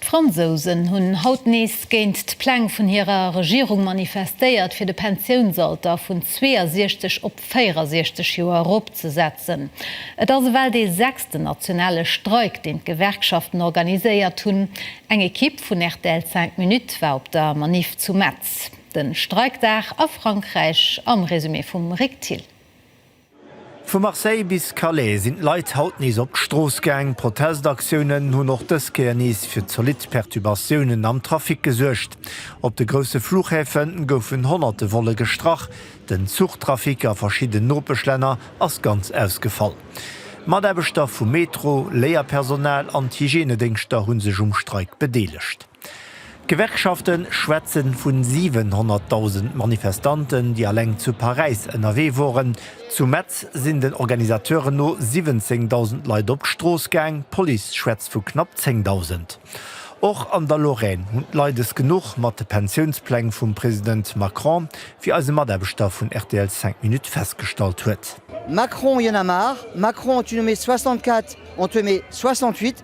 D'Fransousen hunn haut nees géint d'Pläng vun hirer Regierung manifestéiert, fir de Pensiounsalter vun 62 op 64 Joer eropzesetzen. Et ass ewell dee sechsten nationale Streik, deen d'Gewerkschaften organiséiert hunn. Eng Ekipp vun rtl 5 Minutes war op der Maniff zu Metz. De Streikdag a Frankräich am Resumé vum Rick Thill. Vu Marseille bis Calais sinn d'Leit haut nees op d'Strooss gaang. Protestaktiounen hunn och dës Kéier nees fir zolidd Perturbatiounen am Trafic gesuergt. Op de grousse Fluchhäfe goufen honnerte Volle gestrach. Den Zuchtrafic a verschidden Nopeschlänner ass ganz ausgefall. Mataarbechter vum Metro, Léierpersonal an d'Hygienedéngschter hu sech um Streik bedeelegt. D'Gewerkschafte schwätze vu 700.000 Manifestanten, déi alleng zu Paräis ënnerwee woren. Zu Metz sinn den Organisateuren no 17.000 Leit op d'Strooss gaang, d'Police schwätzt vu knapp 10.000. Och an der Lorraine hunn d'Leit es genuch mat de Pensiounspläng vum President Macron, wéi eise Mataarbechter vun rtl Cinq Minutes festgestallt huet. Macron y'en a marre, Macron tu nous mets 64, on te met 68,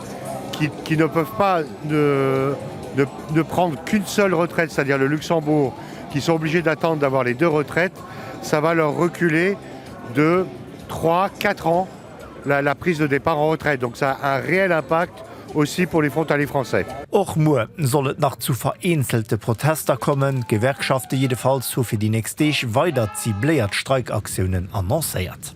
qui, qui ne peuvent pas ne, ne, ne prendre qu'une seule retraite, c'est-à-dire le Luxembourg, qui sont obligés d'attendre d'avoir les deux retraites, ça va leur reculer de 3, 4 ans la, la prise de départ en retraite. Donc ça a un réel impact aussi pour les frontaliers français. Och muer soll et nach zu vereenzelte Protester kommen. D'Gewerkschafte jiddefalls hu fir déi nächst Deeg weider zibléiert Streikaktiounen annoncéiert.